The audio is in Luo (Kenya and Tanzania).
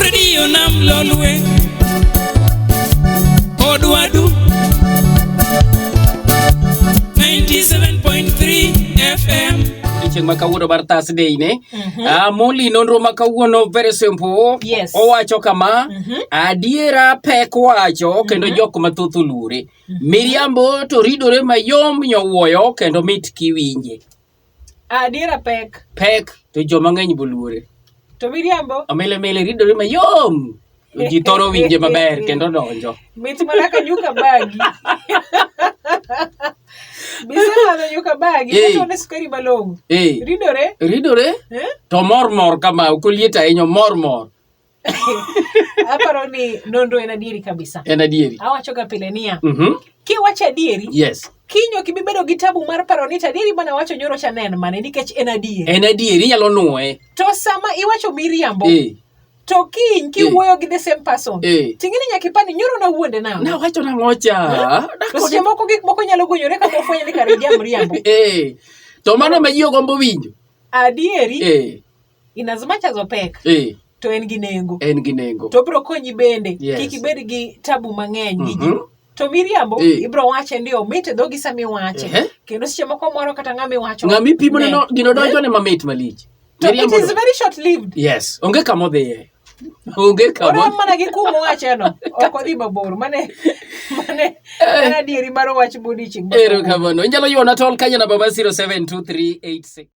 redio nam lolwe odwadu 97.3 fm odiochieng' ma kawuono mar Thursday ne Ah, Molly nonro ma kawuono very simple Yes. owacho kama adiera pek wacho kendo jok mathoth oluore miriambo to ridore mayom nyowuoyo kendo mit kiwinje Adiera pek. Pek to jo mang'eny boluore. To miriambo. Omele mele ridore mayom. Ji thoro winje maber kendo donjo. Mit mana ka nyuka bagi. Bisalano nyuka bagi. Hey. Kato ne sukari malong'o. Hey. Ridore. Ridore. Eh? To mor mor kama ok oliet ahinya mor mor. Aparo ni nonro en adieri kabisa. En adieri. Awacho ga pile niya. Mm -hmm. Kiwacho adieri. Yes. Kinyo ok ibi bedo gi tabu mar paro ni adieri mana wacho nyoro cha nen mane nikech en adieri. En adieri inyalo nuoye. To sama iwacho miriambo. Eh. To kiny kiwuoyo eh. gi the same person. Eh. Ting'eni nyaka ipani nyoro na wuonde na. Na wacho na ngocha. Eh? To seche moko gik moko nyalo gonyore ka ofwenyo ni kare jamriambo. Eh. To mano ma ji ogombo winjo. Adieri. Eh. in as much as opek eh. to en gi nengo en gi nengo to bro konyi bende yes. kik ibed gi tabu mang'eny mm -hmm. to miriambo eh. ibro wache ndio mit e dhogi sama iwache eh. kendo seche moko moro kata ng'ama iwacho ng'ama ipimo ne gino donjo ne mamit malich to it is very short lived yes onge kama odhiye onge kama mana gi kumo wache no ok odhi mabor mane mane eh. adieri mar wach bodiching ero kamano inyalo yuona tol kanya namba mar 072386